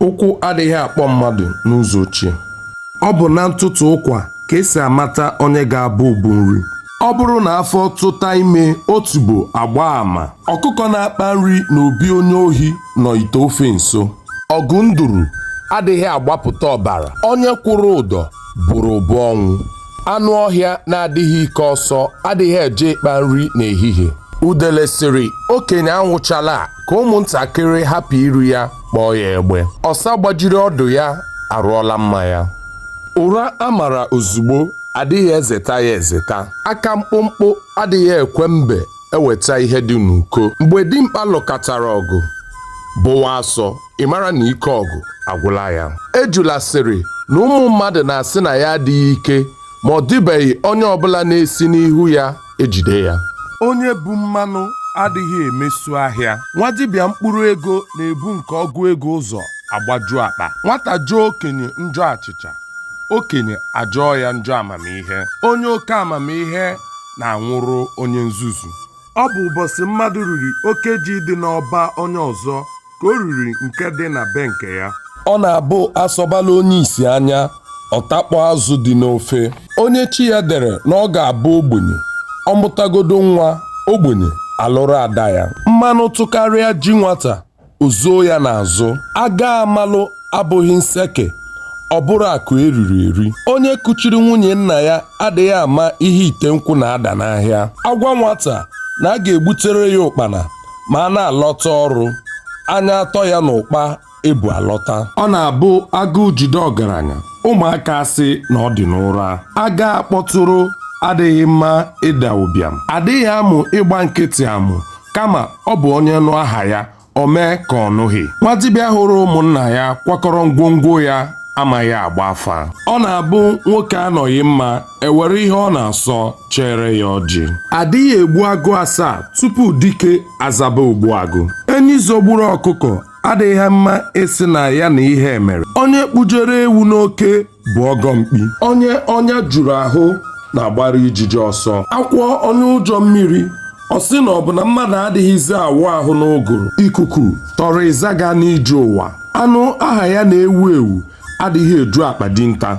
ụkwụ adịghị akpọ mmadụ n'ụzọ ochie ọ bụ na ntụtụ ụkwa ka esi amata onye ga-abụ ubu nri ọ bụrụ na afọ tụta ime otubo agba ama ọkụkọ na-akpa nri na obi onye ohi nọ ite ofe nso ọgụ nduru adịghị agbapụta ọbara onye kwụrụ ụdọ bụrụ ụbụ ọnwụ anụ ọhịa na-adịghị ike ọsọ adịghị eje ịkpa nri n'ehihie udele sịrị okenye anwụchala ka ụmụntakịrị hapụ iri ya kpọọ ya egbe ọsa gbajiri ọdụ ya arụọla mma ya ụra a mara ozugbo adịghị ezeta ya ezeta aka mkpụmkpụ adịghị ekwe mbe eweta ihe dị n'uko mgbe dimkpa lụkatara ọgụ bụwa asọ ị mara na ike ọgụ agwụla ya ejula sịrị na ụmụ mmadụ na-asị na ya adịghị ike ma ọ dịbeghị onye ọbụla na-esi n'ihu ya ejide ya onye bu mmanụ adịghị emesu ahịa nwa dibịa mkpụrụ ego na-ebu nke ọgụ ego ụzọ agbaju akpa nwata jọọ okenye njọ achịcha okenye ajọọ ya njọ amamihe onye oke amamihe na-anwụrụ onye nzuzu ọ bụ ụbọchị mmadụ riri oke ji dị n'ọba onye ọzọ ka o riri nke dị na be nke ya ọ na-abụ asọbala onye isi anya ọ takpọ azụ dị n'ofe onye chi ya dere na ọ ga-abụ ogbenye ọ mụtagodo nwa ogbenye alụrụ ada ya mmanụ tụkarịa ji nwata o zoo ya n'azụ aga amalụ abụghị nseke ọ bụrụ akụ eriri eri onye kuchiri nwunye nna ya adịghị ama ihe ite nkwụ na-ada n'ahịa a gwa nwata na a ga-egbutere ya ụkpana ma a na-alọta ọrụ anya atọ ya n'ụkpa ebu alọta ọ na-abụ agụụ jide ọgaranya ụmụaka asị na ọ dị n'ụra aga akpọtụrụ adịghị mma ịda ụbịam adịghị amụ ịgba nkịtị amụ kama ọ bụ onye nụ aha ya o mee ka ọ nụghị nwa dibịa hụrụ ụmụnna ya kwakọrọ ngwongwo ya amaghị agba afa ọ na-abụ nwoke anọghị mma ewere ihe ọ na-asọ chere ya ọjị adịghị egbu agụ asaa tupu dike azaba ogbu agụ enyi zogburu ọkụkọ adịghị mma ịsị na ya na ihe emere onye kpụjere ewu n'oke bụ ọgọ mkpi onye ọnya juru ahụ na-agbara ijiji ọsọ akwọ onye ụjọ mmiri ọ sị na ọ bụ na mmadụ adịghịzi awụ ahụ n'ụgụrụ ikuku tọrọ ịzaga n'ije ụwa anụ aha ya na-ewu ewu adịghị eju akpa dinta